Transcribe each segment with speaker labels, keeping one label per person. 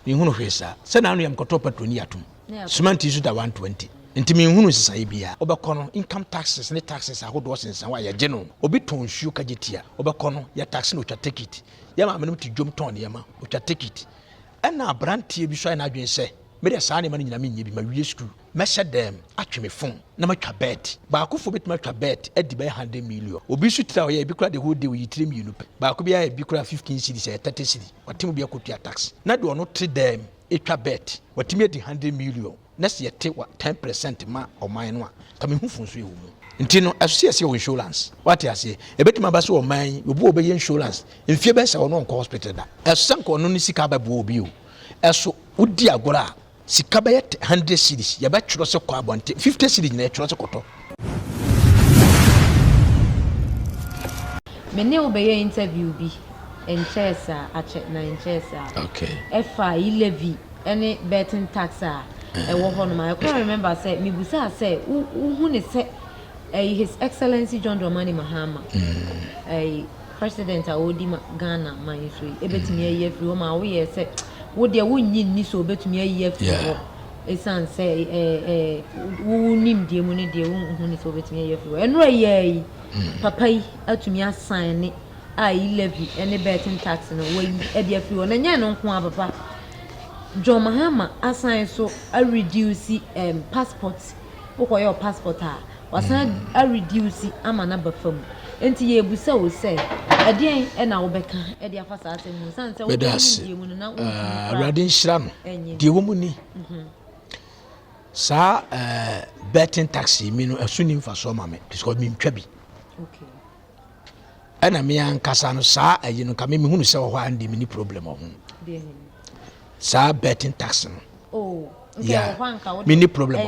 Speaker 1: Menhunu hwee saa. Sɛ n'ano yɛ mekɔtɔɔ petrol ne yɛatom. Cement nso da 120. Nti menhunu nsesaeɛ biaa. Wobɛkɔ no, income taxes ne taxes ahodoɔ sensɛn hɔ a yɛgye no. Obi tɔn nsuo ka gye tia. Wobɛkɔ no, yɛ taxi na ɔtwa tekit. Yɛ maame nom te dwom tɔn nneɛma, ɔtwa tekit. Ɛna abranteɛ bi nso ayɛ n'adwene sɛ, Medeɛ saa nneɛma no nyinaa menyɛ bi, mawie sukuu. Mɛhyɛ dɛm, atwe me fon, na matwa bɛt. Baakofoɔ bɛtumi atwa bɛt adi bɛyɛ hundred million. Obi nso tiri a ɔyɛ, ebi koraa the whole day ɔyi tire mmienu pɛ. Baako biara yɛ bi koraa fifteen cedis, ɛyɛ thirty cedi. Wate mu bi akɔtua tax. Na deɛ ɔno te dɛm twa bɛt, watumi adi hundred million. Na sɛ yɛte wa ten peresɛnt ma ɔman no a, nka me ho fu nso ɛwɔ mu. Nti no, ɛso sɛ yɛsɛ wɔ insurance. Wate aseɛ? Ɛbɛtumi aba sɛ ɔman yi, obi wɔ hɔ ɔbɛyɛ insurance mfeɛ bɛsa ɔno ɔnkɔ hospital da. Ɛso sɛ nka ɔno ne sika abɛboa obi o. Ɛso wodi agorɔ a. Sika bɛyɛ te hundred series yɛbɛ twerɛ se kɔ abɔnten fifty series nyina yɛtwerɛ se kɔtɔ.
Speaker 2: Me ne wo bɛyɛ interview bi nkyɛɛ saa akyɛ na nkyɛɛ saa okay. ɛfa
Speaker 1: yi levy
Speaker 2: ɛne betting tax a ɛwɔ hɔ nom a ɛkora remember sɛ me busaa sɛ wo wo hu ne sɛ ɛyi his excellency John Dramani Mahama mm. ɛyi. President a ɔredi ma Ghana man yi so yi, ebetumi ayi afiri hɔ ma woyɛ sɛ wo deɛ wonnye nni sɛ obetumi ayi afiri hɔ esiane sɛ ɛɛ ɛɛ wo wo nimdeɛ mu ne deɛ wonhu ne sɛ obetumi ayi afiri hɔ. Ɛnora yi ara yi, papa yi atumi asan ne a yi levy ne betting tax no wayi ɛde afiri hɔ. Na nyɛ ɛno nko ara papa. John Mahama asan so a reduce ɛɛm passport wokɔyɛ ɔ passport a Wasan a reduce ama no aba fam. Nti yɛrebisa wo sɛ, ɛdeɛn na wobɛka de afa saa asɛm mu? Sane sɛ wode nimdeɛ mu no na wontumi ah, Awurade nhyira
Speaker 1: no. Deɛ wɔ mu ni. Mhm. Saa eh, betting taxi mi no ɛso ni mfasoɔ ma me because mentwa bi.
Speaker 2: Okay.
Speaker 1: Ɛna me ankasa no saa ayi no ka me mehunu sɛ wɔ hɔ a ndeɛ meni problem wɔ ho. Saa betting taxi no. Oh. Yeah.
Speaker 2: Mini
Speaker 1: problem.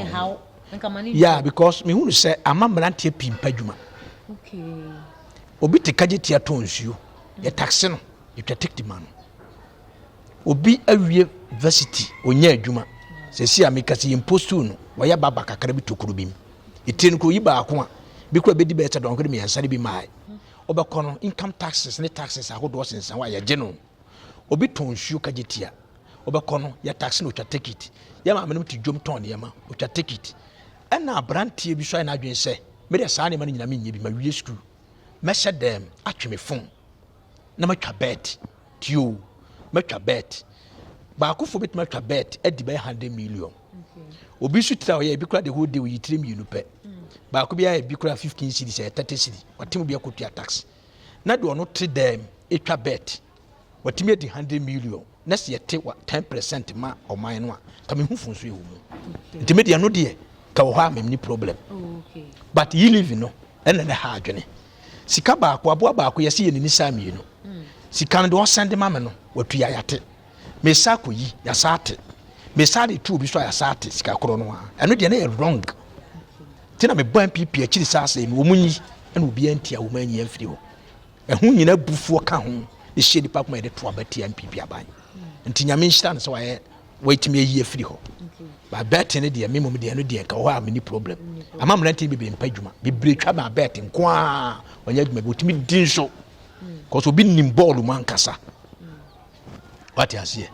Speaker 2: Yeah
Speaker 1: because me hunu sɛ ama mmeranteɛ pii mpa adwuma.
Speaker 2: Obi
Speaker 1: te kagye tia tɔn nsuo, mm. yɛ taxe no, yɛtwa tikiti ma no. Obi awie varsity, ɔnya adwuma. Sɛsi a meka sɛ yɛn postuu no, wɔyɛ baba kakra bi tokuro bi mu. Ɛtire no kuro yi baako a, bi kura bɛdi bɛyɛ sɛ dɔnkere mmiɛnsa no bi maae. Wobɛkɔ no, income taxes ne taxes ahodoɔ sensan hɔ a yɛgye no. Obi tɔn nsuo ka gye tia. Wobɛkɔ no yɛ taxi na ɔtwa tekit. Yɛ maame nom te dwom tɔn nneɛma, ɔtwa tekit. Ɛna aberanteɛ bi so ayɛ n'adwene sɛ me deɛ saa nneɛma no nyina menyɛ bi, mawie sukuu. Mɛhyɛ dɛm atwe me fon na matwa bɛɛt. Tio, matwa bɛɛt. Baakofoɔ bɛtumi atwa bɛɛt adi bɛyɛ 100 million. Obi nso tiri a ɔyɛ ebi kora the whole day ɔyi tiri mmienu pɛ. Baako biara ebi kora 15 cedi sɛ 30 cedi. Ɔte mu bi akɔtua taxi. na deɛ ɔno te dan mu ɛtwa bet watumi adi hundred million na sɛ yɛte wa ten percent ma ɔman no a ka me hu fun so ɛwɔ mu nti me deɛ no deɛ ka wɔ hɔ a mem ne problem oh, but
Speaker 2: yi live no
Speaker 1: ɛna ne ha adwene sika baako aboa baako yɛsi yɛ ne nisa mmienu hmm. sika no deɛ ɔsɛn de ma me no watua yate. mesan akɔ yi yasa ate mesan de tu obi so a yasa ate sika korɔ no a ɛno deɛ na yɛ wrong ti na mebɔ npp akyiri saa asɛe no wɔn nyi ɛna obiara nti a wɔn anyi amfiri hɔ ɛho nyina bufuo ka ho ne hyɛ nipa kuma yɛde to aba tia npp aban nti nyame nhyira no sɛ wayɛ wɔatumi ayi afiri hɔ ba bɛɛte no deɛ memom deɛ no deɛ nka hɔ a meni problem ama mmerante no bebree mpa adwuma bebree twa ma bɛɛte nko a ɔnyɛ adwuma bi wɔtumi di nso kɔsɛ obi nim bɔɔlo mu ankasa wate aseɛ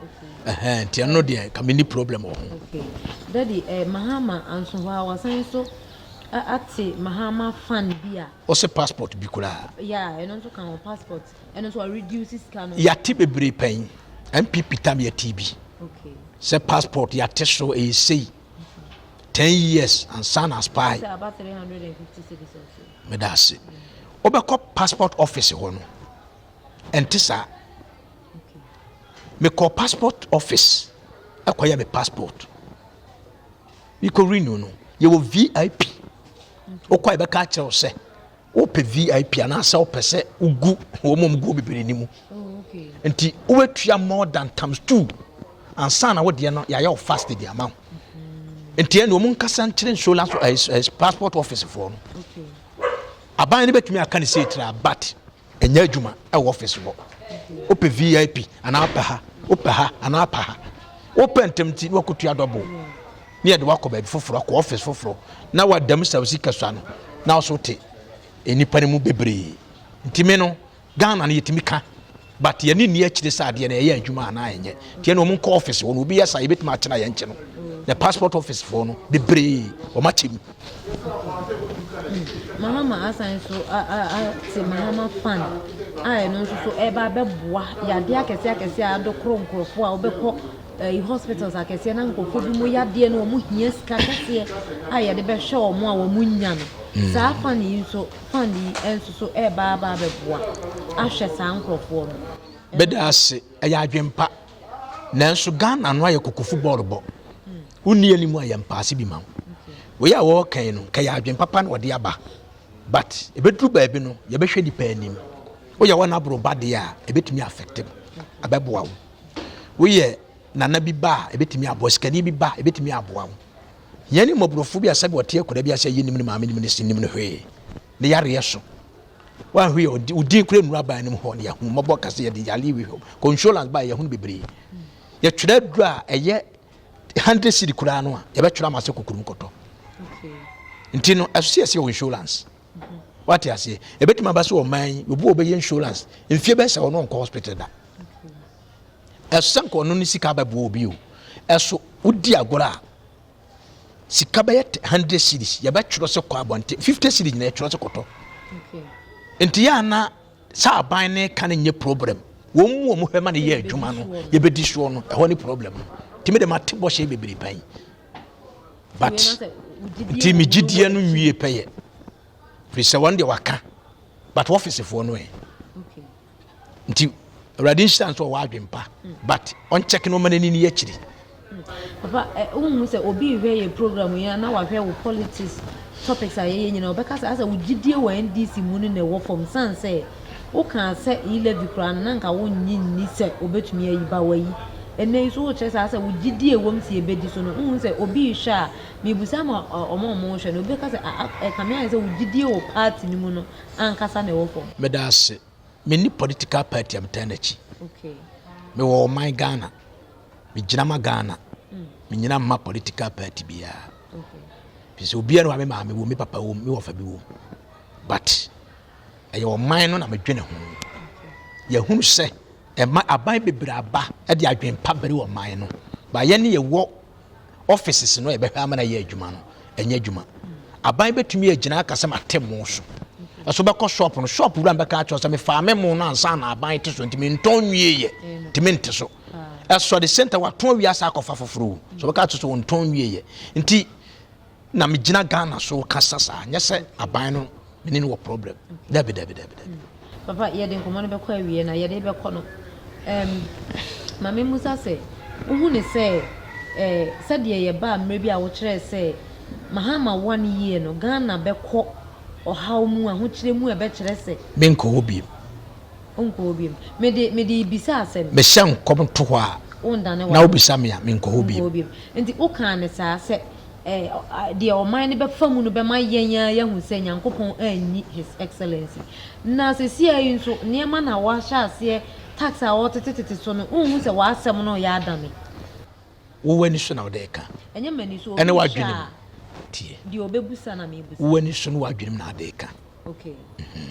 Speaker 1: ɛhɛn nti ɛno deɛ ka menni problem wɔ ho dadi
Speaker 2: eh, mahama anso hɔ a wɔsan nso ate mahama fan bi a ɔsɛ passport bi
Speaker 1: koraa ya ɛno nso ka ho
Speaker 2: passport ɛno nso ɔreduce sika no yɛate bebree pɛn
Speaker 1: mpp tam yɛte bi sɛ
Speaker 2: passport
Speaker 1: yɛate so ɛyɛ sei 10 years ansa na spy
Speaker 2: meda
Speaker 1: ase wobɛkɔ passport office hɔ no Ɛnte saa.
Speaker 2: Mekɔɔ
Speaker 1: passport office ɛkɔyɛ me passport. Mekɔ renew no, yɛwɔ VIP. Wokɔ a yɛbɛka akyerɛ wo sɛ wopɛ VIP anaasɛ wopɛ sɛ wogu wɔn mu guo bebree ni mu. Oh, Nti
Speaker 2: wobɛtua
Speaker 1: more than times two ansa na wodeɛ no yɛayɛ wo fast de ama wo. Mm-hmm. Nti ɛne wɔn nkasa nkyerɛ insurance eh, eh, passport office foɔ no.
Speaker 2: Aban
Speaker 1: no bɛtumi aka ne sɛ ɛtira but ɛnyɛ adwuma ɛwɔ office hɔ wopɛ vip anaa pɛ ha wopɛ ha anaa pɛ ha wopɛ ntɛm nti na wakotua dɔbo ne yɛde wakɔ baabi foforɔ akɔ office foforɔ na wadam sa osi kasua no na ɔso te nnipa no mu bebree ntumi no ghana no yɛtumi ka but yɛne nni akyire sɛ adeɛ no ɛyɛ adwuma anaa ɛnyɛ tiɛ na ɔmo nkɔ office hɔ no obi yɛ sa yɛbɛtumi akyena yɛn kyɛ no na passport office foɔ no bebree ɔmo akyɛ mu
Speaker 2: Mahama asan nso ate Mahama fan a ɛno nso so ɛreba abɛboa yadeɛ akɛseɛ akɛseɛ a adokoro nkurɔfoɔ a wobɛkɔ ɛyi eh, hospitals akɛseɛ na nkurɔfoɔ bi mu yadeɛ no wɔn hia sika kɛseɛ a yɛde bɛhwɛ wɔn a wɔn nya no hmm. saa fan yi nso fan yi nso so ɛreba aba abɛboa ahwɛ saa nkurɔfoɔ no. bɛda ase
Speaker 1: ɛyɛ adwempa nanso ghana no ayɛ koko football bɔ. Wonni anim a yɛ mpaase bi ma wo. Wei a wɔɔka yi no, nka yɛ adwen papa na wɔde aba. But, ɛbɛduru baabi no, yɛbɛhwɛ nipa anim. Woyɛ wɔn aboro ba deɛ a, ɛbɛtumi affect wo, abɛboa wo. Woyɛ nana bi ba a, ɛbɛtumi aboa wo. Sikani bi ba, ɛbɛtumi aboa wo. Hia ne mmɔborɔfo bi a sɛdeɛ ɔte akwadaa bi ase, yɛ nim ne maame nim ne se nim no hwee. Ne yareɛ so. Wanhwɛ yɛ, wo din kura nnuru aban no mu hɔ, ne yɛahu mmɔbɔ kɛse, yɛde yareɛ wi hɔ. Consolence ba a, yɛahu no bebree. Yɛtwerɛ aduru a ɛyɛ hundred cedi koraa no a yɛbɛtwerɛ ama sɛ kokurom kɔtɔ nti no ɛso sɛ yɛsɛ wɔ insurance mhm. wate aseɛ ɛbɛtumi aba sɛ ɔman yi obi wɔ bɛyɛ insurance mfie bɛsɛ ɔno nkɔ hospital da ɛso sɛ nkɔ ɔno ne sika bɛboɔ obi o ɛso wodi agorɔ a sika bɛyɛ hundred series yɛbɛtwerɛ sɛ kɔ abɔnten fifty series nyina yɛtwerɛ sɛ kɔtɔ nti yɛ ana Sɛ aban ne ka no nyɛ problem, wɔn mu wɔn hwɛ ma no yɛ adwuma no, yɛbɛdi soɔ no, ɛhɔ ne problem no. Nti mede mate bɔhyɛ bebree pɛn. But nti me gyidie no nwie pɛyɛ. Firi sɛ wɔn deɛ waka, but wɔfisefoɔ no ɛ. Nti awurade nhyira nso ɔwɔ adwempa, but ɔnkyɛke no ɔma n'ani ni akyiri. Papa
Speaker 2: eh wonhu sɛ obi rehwɛ yɛn program yi a na wahwɛ wo politics topics a yɛyɛ nyinaa ɔbɛka sɛ asɛ wo gyidie wɔ NDC mu no na ɛwɔ fam sane sɛ wokaa sɛ e levy koraa no na nka wonnye nni sɛ obɛtumi ayi ba wayi ɛnɛ yi so wokyerɛ sɛ asɛ wo gyidie a ɛwɔm sɛ yɛbɛdi so no wonhu sɛ obi rehwɛ a mebusa ma ɔma ɔmo rehwɛ no obi bɛka sɛ a ɛkame ayɛ sɛ wo gyidie wɔ party no mu no ankasa na ɛwɔ fam. Meda ase.
Speaker 1: Menni political party a metaa n'akyi.
Speaker 2: Mewɔ ɔman
Speaker 1: Ghana me gyina ma Ghana me nyina ma political party biara
Speaker 2: fi sɛ obiara
Speaker 1: wa me maame wɔ me papa wɔ me wɔfa bi wɔ but ɛyɛ ɔman no na medwene ho yɛhunu sɛ ɛma aban bebree aba ɛde adwene pa bere wɔ ɔman no ba yɛ ne yɛwɔ offices no yɛbɛhwɛ ama na yɛ adwuma no ɛnyɛ adwuma aban bɛtumi agyina aka sɛ mate mo so ɛso bɛkɔ shop no shop wura mbɛka akyerɛ sɛ mefaa me mo no ansa na aban te so nti mentɔn nwieɛ nti mente so ɛsɔ the same time watɔn wie asa akɔfa foforɔ o so wɔka to so wɔntɔn wie yɛ nti na megyina ghana so kasa saa nyɛ sɛ aban no mene no wɔ problem dabi dabi dabi dabi mm.
Speaker 2: papa yɛde nkɔmmɔ no bɛkɔ awie na yɛde bɛkɔ no um, ma memmusa sɛ wohu ne sɛ eh, sɛdeɛ yɛbaa mmerɛ bi a wokyerɛɛ sɛ mahama one yie no ghana bɛkɔ ɔhaw mu ahokyerɛ mu ɛbɛkyerɛ sɛ menkɔ hɔ biem
Speaker 1: Wonkɔ hɔ biom. Mede,
Speaker 2: mede rebisa asɛm. Mehyɛ nkɔm to hɔ a.
Speaker 1: Wondane w'adwene. Na wobisa me a, menkɔ hɔ biom. Wonkɔ hɔ biom. Enti wokaa no
Speaker 2: saa sɛ, eh, deɛ ɔman no bɛfa mu no bɛma yɛn ara yɛahu sɛ Nyankopɔn anyi His Excellency. Na sesiaa yi nso, nneɛma na wɔahyɛ aseɛ, tax a wɔretetetete so no, wonhu sɛ w'asɛm no reyɛ adane? Wo
Speaker 1: w'ani so na wode reka. Ɛnyɛ m'ani so. Ɛne
Speaker 2: w'adwenem.
Speaker 1: Tie. Deɛ ɔbɛbusa
Speaker 2: na mebusa. Wo w'ani so ne w'adwenem na
Speaker 1: ade reka. Okay. Mm-hmm.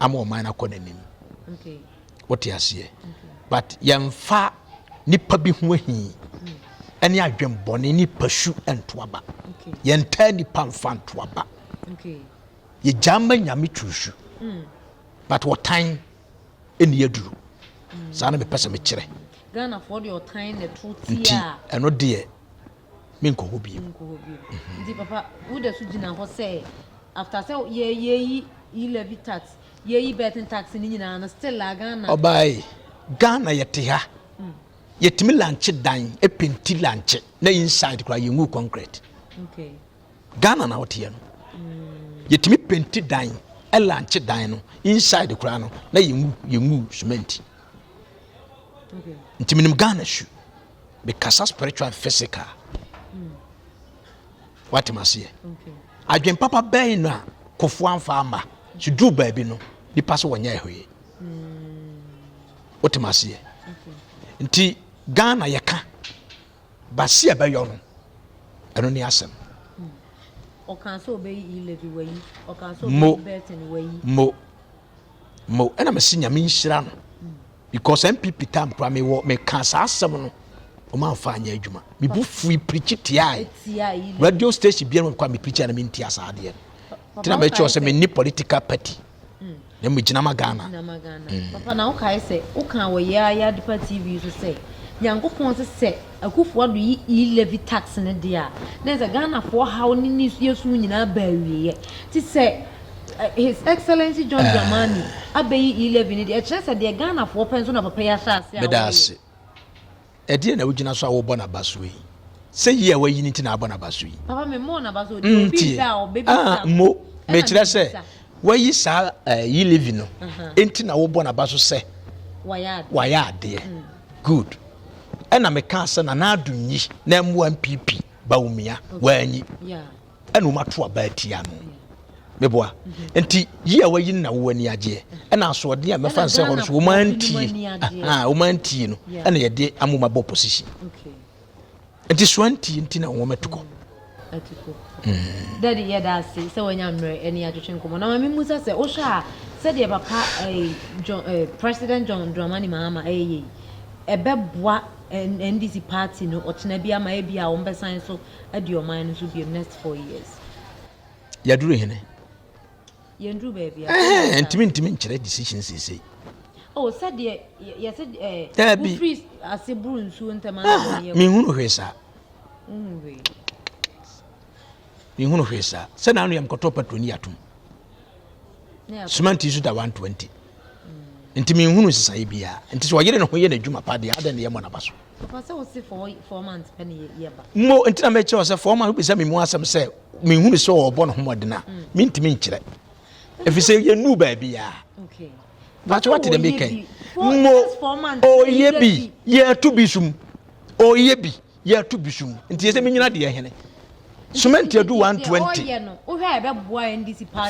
Speaker 1: ama ɔman no akɔ n'anim
Speaker 2: wote aseɛ
Speaker 1: but yɛmfa nipa bi ho ahi ɛne adwembɔne ne pasu ntoaba yɛntaa nipa mfa ntoaba yɛgyaa ma nyame tusu hmm. but wɔtan ɛni aduru hmm. saa na mepɛ sɛ mekyerɛ
Speaker 2: nti ɛno deɛ
Speaker 1: menkɔ hɔ bio. Menkɔ hɔ bio. Mhm. Nti papa,
Speaker 2: wo da so gyina hɔ sɛ after sɛ yɛ yɛyi yi levy tax, yɛyi betting tax ne nyinaa no still a Ghana. Ɔbaae,
Speaker 1: Ghana yɛte ha. Mm. Yɛtumi lankye dan, ɛpenti lankye, na inside koraa yɛngu concrete. Okay.
Speaker 2: Ghana na
Speaker 1: woteɛ no. Mm. Yɛtumi penti dan, ɛlankye dan no, inside koraa no, na yɛngu, yɛngu cement. Okay.
Speaker 2: Nti menim
Speaker 1: Ghana su. me kasa spiritual and physical hmm. wate ma seɛ
Speaker 2: adwen
Speaker 1: papa bɛn na kofo anfa ama so duru baabi no nipa so wɔnyɛ ɛhwee hmm. wote ma seɛ nti ghana yɛka basi a ɛbɛyɔ no ɛno ne asɛm hmm.
Speaker 2: ɔkan sɛ ɔbɛyi ilɛvi wayi ɔkan sɛ ɔbɛyi bɛtɛn wayi mo
Speaker 1: mo ɛna mesi nyame nhyira no Because NPP time kura me wɔ me ka saa asɛm no wɔn anfa anyɛ adwuma me bu fui pirikyi tiae radio station biara wɔn kɔ a me pirikyi a na me ntia saa adeɛ no tena mɛ kyerɛ sɛ me ni political party hmm. na me gyina ma Ghana. Hmm. Papa na
Speaker 2: wokae sɛ woka wɔ yɛ ayɛ adepa TV so sɛ nyankopɔn sɛ sɛ Akufo-Addo yi e-levy tax no de a, na ɛsɛ sɛ Ghanafoɔ haw ne ne yɛsu nyinaa ba awieɛ. Nti sɛ His Excellency John Dramani abɛyi e-levy no deɛ, ɛkyerɛ sɛ deɛ Ghanafoɔ pɛ nso na papa yi ahyɛ aseɛ a ɔreyɛ. Meda ase.
Speaker 1: Ɛdeɛn na wogyina so a wobɔ no aba so yi? Sɛ yi a woayi no nti na abɔ no aba so yi? Papa, memmɔɔ no aba so. Deɛ
Speaker 2: obi Ntie, da a ɔbɛbisa ah, me. mmo. Ɛna
Speaker 1: Mekyerɛ sɛ mebisa. woayi saa eh, e-levy no Aha. nti na wobɔ no aba so sɛ Wayɛ adeɛ. wayɛ adeɛ. Mm. Good. Ɛna me kaa sɛ na n'adum nyi na ɛmmoa npp Bawumia wanyi ɛna wɔn ato aba atia no meboa mhm. nti yi a wayi na wɔn ani agyeɛ ɛna asoɔden a mɛfa nsɛ hɔ no so wɔn antie wɔn antie no ɛna yɛde amoma bɔ position. Okay. Nti soa nti nti na wɔn atukɔ. Atukɔ. Mm.
Speaker 2: Dadi yɛ da ase sɛ wɔanya mmerɛ ɛne atwetwe nkɔmɔ. Na maame musa sɛ wohwɛ a sɛdeɛ papa eh, John, eh, President John Dramani Mahama ɛyɛ eh, yei ɛbɛboa eh, NDC party no ɔkyena bi ama ebi a wɔn bɛsan so adi ɔman no so biom next four years.
Speaker 1: Yaduru hene.
Speaker 2: yɛn duru baabi a. ɛhɛn ntumi ntumi
Speaker 1: nkyerɛ decision seesei. o oh, sɛdeɛ
Speaker 2: yɛsɛ ɛɛ. daabi wofiri ase buru nsuo ntɛm ara na wɔn yɛ. mehunu hwee saa.
Speaker 1: wohunu hwee. mehunu hwee saa sɛ na ano yɛ mkɔtɔ patro ni atom sumanti nso da one twenty nti mehunu nsesaeɛ biara nti sɛ ɔyere ne ho yɛ n'adwuma pa deɛ adɛn ne yɛmmɔ n'aba so
Speaker 2: Mo nti na mekyerɛ sɛ
Speaker 1: four months wobisa me mu asɛm sɛ menhunu sɛ ɔbɔ ne ho mmɔden a mentumi nkyerɛ ɛfiri sɛ yɛnuu baabiaa
Speaker 2: bakyɛ wate dɛ
Speaker 1: meka yi mo ɔyɛ bi yɛto bi som ɔyɛ bi yɛto bi som nti yɛ sɛ menyina deɛ hene cement adu 120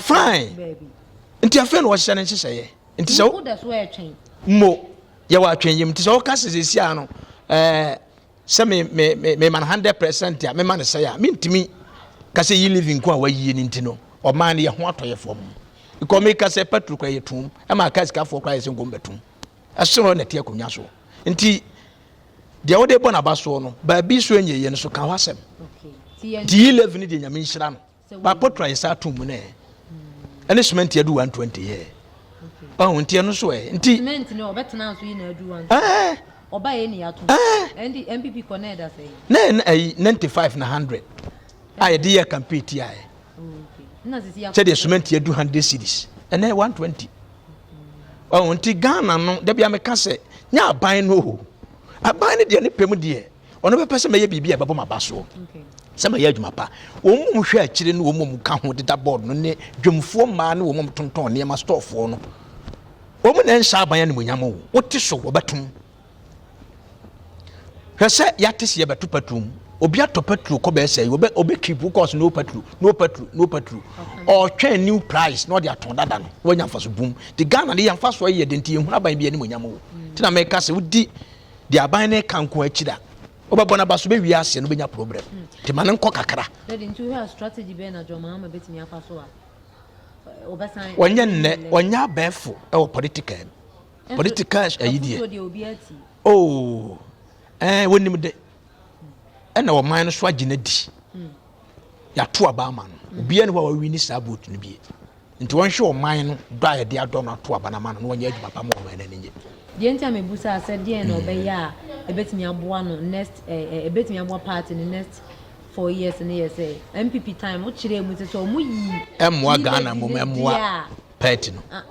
Speaker 2: fine
Speaker 1: nti afei na wɔhyehyɛ no nhyehyɛeɛ nti sɛ wo da so ɛtwɛn
Speaker 2: mo
Speaker 1: yɛ wɔ atwɛn yam nti sɛ ɔka sɛ sɛsi a no ɛɛ sɛ me me me me ma no hundred percent a me ma no sɛ a me ntumi ka sɛ yi living ko a wayie ne nti no ɔmaa no yɛ ho atɔ yɛ fam ikɔ me ka sɛ patro kora yɛ tum ɛma aka sikafoɔ kora yɛ sɛ nkɔm bɛtum ɛsoro na ɛte akonnwa so nti deɛ wode bɔ n'aba soɔ no baabi so ɛnyɛ yɛ no so ka ho asɛm nti yi living deɛ nyame nhyira no Baako tra nsa ato mu nɛ ɛne cement adu 120 yɛ ɔho nti ɛno so ɛ nti cement no ɔbɛtena nso
Speaker 2: yi na adu 120 ɔba yɛ ni ato ɛndi npp kɔ na ɛda sɛ yi na ɛyi
Speaker 1: 95 na 100 a yɛde yɛ campaign ti ayɛ
Speaker 2: sɛdeɛ cement yɛ du
Speaker 1: 100 cities ɛnɛ 120 ɔho nti Ghana no dabi ameka sɛ nyɛ aban no o aban no deɛ ne pɛm deɛ ɔno bɛpɛ sɛ mɛyɛ biribi a ɛbɛbɔ m'aba soɔ sɛ mɛyɛ adwuma pa wɔn mu hwɛ akyire ne wɔn mu ka ho deda bɔɔd no ne dwomfoɔ mmaa ne wɔn mu tontɔn nneɛma stɔɔfoɔ no wɔn na nhyɛ aban animonyam o wote so wɔbɛtom hwɛ sɛ yɛate sɛ yɛbɛto paturo mu obi atɔ paturo kɔ bɛyɛ sɛ wɔbɛ ɔbɛ keep kɔɔso no paturo no paturo no paturo ɔtwɛn new price na ɔde atɔn dada no wɔnya nfa so boom te ghana de yɛn nfa so yɛ de nti yɛn hunu aban bi animonyam o te na mɛka sɛ wodi deɛ aban no ka nko akyiri a wobɛbɔ no aba so bɛwie aseɛ no wobɛnya problem nti ma no nkɔ kakra
Speaker 2: ɔnyɛ nnɛ
Speaker 1: ɔnyɛ abɛɛfo ɛwɔ political no political ayi deɛ oo ɛɛ wɔnim de ɛna ɔman no so agye no adi yɛato aba ama no obiara ne hɔ a wawi ne saa boot no bie nti wɔnhwɛ ɔman no dɔ a yɛde adɔ no ato aba no ama no na wɔnyɛ adwuma pa ma ɔman no ani nye deɛ nti a mebusa
Speaker 2: sɛ deɛ na ɔbɛyɛ a ɛbɛtumi aboa no next ɛbɛtumi aboa party no next four years no yɛ sɛ npp time wokyerɛɛ mu sɛ sɛ ɔmo yi ɛmmoa ghana mmom
Speaker 1: ɛmmoa party no. Ah,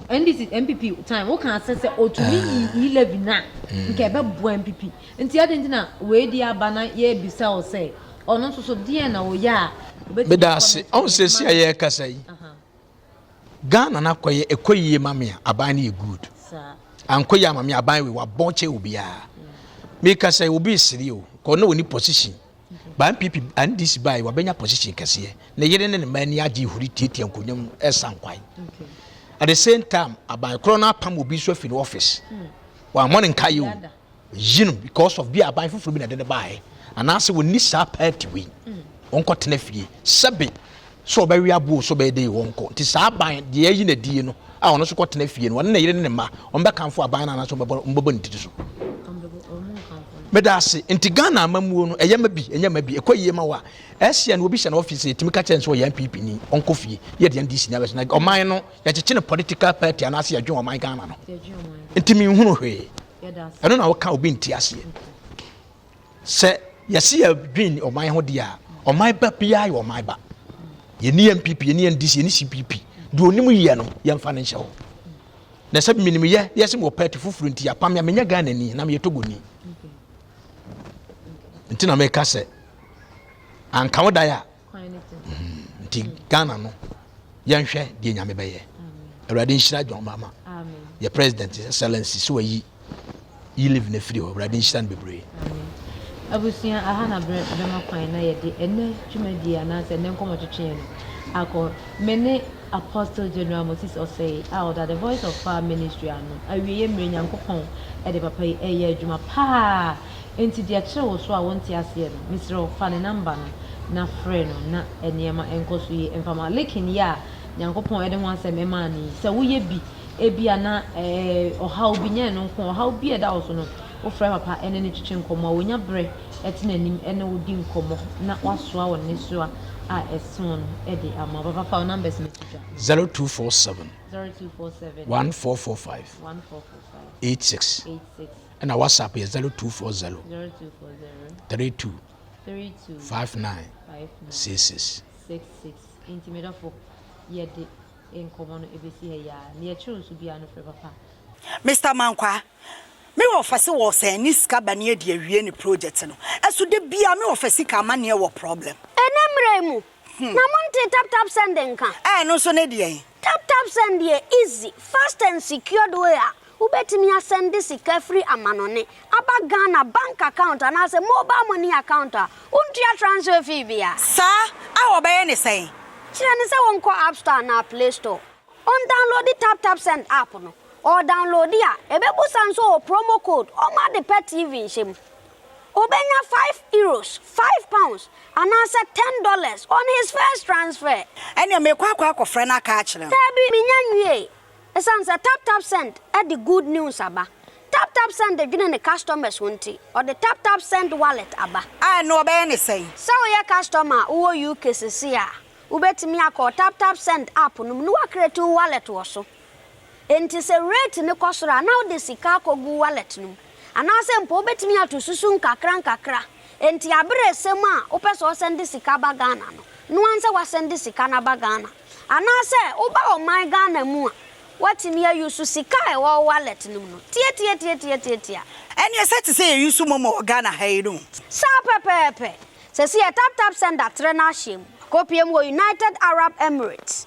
Speaker 1: NDC,
Speaker 2: MPP time, wo kan sɛ sɛ otumi yi ah. yi levy na mm. nka ɛbɛ boa MPP. Nti adi nti na wei di aba na yɛ bisa o sɛ ɔno nso so deɛ na o yɛ a. Beda ase,
Speaker 1: ɔn sɛ si a yɛ kasa yi. Ghana na kɔ yɛ ɛkɔ yie ma me a aban no yɛ good. Ankɔ yie ama me aban wei wabɔ kyɛ obiara. Mm. Mekasa yi obi siri o, kɔ na wɔn ni position. Ba NPP NDC bae wabɛnya position kɛseɛ. Ne yere ne ne mma ani agye huri tiatia nkonnwa mu ɛsa nkwan. At the same time aban korɔ no apam obi nso afi ne office. Hmm. Wammɔ ne nkaeɛ o. Yi no because of bi aban foforɔ bi na ɛde ne baeɛ. Anaasɛ wɔnni saa party wei. Hmm. Wɔnkɔtena fie. Sɛbe So ɔbɛwe aboɔ o, so ɔbɛyɛ dɛn o, ɔnkɔ. Nti saa aban, deɛ ayi no adie no, a ɔno nso kɔtena fie no, ɔne ne yere ne ne mma, wɔbɛkamfo aban no anaasɛ wɔbɛbɔ ne tiri so? Meda ase. Nti Ghana amamuo no, ɛyɛ ma bi, ɛnyɛ ma bi. Ɛkɔ yie ma wo a, ɛsɛ no obi hyɛ no office, yɛtumi ka kyerɛ no sɛ ɔyɛ NPP ni, ɔnkɔ fie. Yɛ deɛ NDC ni abɛsɛ. Na ɔman no, yɛkyekye no political party anaasɛ yɛdwen ɔman Ghana no. Nti menhunu hwee. Ɛno na woka obi nte aseɛ. Sɛ yɛse yɛdwen ɔman ho deɛ a, ɔman ba biara yɛ ɔman ba. Yɛni NPP, yɛni NDC, yɛni CPP. Deɛ onim yɛ no, yɛmfa no nhyɛ hɔ. Na sɛ menim yɛ, yɛse mewɔ party foforɔ nti apam me a, menyɛ Ghana ni, na meyɛ Togoni. Nti na meka sɛ, anka wo dan a, nti ghana no yɛnhwɛ deɛ nyame bɛyɛ awurade nhyira john mama yɛ president excellency sɛ wayi yi live no afiri hɔ awurade nhyira no bebree abusua
Speaker 2: aha na berɛ bɛma kwan na yɛde ɛnɛ dwumadie anaasɛ ɛnɛ nkɔmmɔtwetweɛ no akɔ me ne apostle general moses ɔsɛe a ɔda the voice of far ministry ano awieɛ mmerɛ nyankopɔn ɛde papa yi ɛyɛ adwuma paa Enti deɛ ɛkyere wo so a wonte aseɛ no, mesrɛ wo fa ne number no na frɛ no na nneɛma nkɔ so yie mfa ma. Liking yi a Nyankopɔn de ho asɛm maa no yi, sɛ woyɛ bi, ebia na ɛɛ ɔhaw bi, nyɛ ɛno nko, ɔhaw bi a ɛda wo so no, wofrɛ papa ne no twetwe nkɔmmɔ a, onya berɛ te n'anim ne wo di nkɔmmɔ na wasoa wo nnesoa a ɛso no de ama wo. Papa fa wo numbers no to dwa. 0247 0247 1445 1445 86.
Speaker 1: 86. Ɛna WhatsApp yɛ zero two four zero. Zero two four zero. Three two. Three two. Five nine. Five nine. Six six. Six six.
Speaker 2: Nti mi dɔfo yɛ de nkɔmɔ no ebesi ha yia. Ni yɛ kyerɛ nso bia no fɛ papa. Mister Mankwa,
Speaker 3: me wɔ fɛse wɔ sɛ ɛne sika ba ne adi awie ne project no. Ɛso da biaa me wɔ fɛ sika ama neɛ wɔ problem. Ɛnɛ mmerɛ yi mu
Speaker 4: na monte tap tap send nka. Ɛɛ ɛno nso ne deɛn.
Speaker 3: Tap Tap Send
Speaker 4: yɛ easy, fast and secured way a wobɛtumi asɛnde sika firi amanɔne aba Ghana bank account anaasɛ mobile money account a wontua transfer fee bia. Saa a
Speaker 3: wɔbɛyɛ ne sɛn? Kyerɛ no sɛ wɔnkɔ
Speaker 4: App Store anaa Play Store, ɔndownloadi Tap Tap Send app no, ɔredownloadi a, ɛbɛbusa nso wɔ promo code, ɔmma ade pa TV nhyɛ mu. Obenya five euros, five pounds, anaasɛ ten dollars on his first transfer. Ɛnneɛ merekɔ akɔ
Speaker 3: akɔfrɛ no aka akyerɛ no. Daabi, mennya nwiee.
Speaker 4: Esiane sɛ TapTapSend de good news aba, TapTapSend dwene ne customers ho nti, ɔde TapTapSend Wallet aba. A, ɛnneɛ wɔbɛyɛ no
Speaker 3: sɛn? Sɛ woyɛ customer
Speaker 4: a wowɔ UK seesei a, wobɛtumi akɔ TapTapSend app no mu na woacreate wo wallet wɔ so. Enti sɛ rate no kɔ soro a, na wode sika akɔgu wallet no mu. Anaasɛ mpo wobɛtumi ato susu nkakrankakra. Enti aberɛ ɛsɛ mu a wopɛ sɛ wosɛnde sika ba Ghana no, noa nsɛ woasɛnde sika no aba Ghana. Anaasɛ woba ɔman Ghana mu a, woatumi a use sika a ɛwɔ wo wallet no mu no. Tiatiatiatiatiatia. Ɛneɛ sɛ
Speaker 3: te sɛ yɛ use momo wɔ Ghana ha yi no. Saa pɛpɛɛpɛ.
Speaker 4: Sɛsi yɛ taptapsend atrɛ no ahyɛ mu. Kɔpie mu wɔ United Arab Emirates.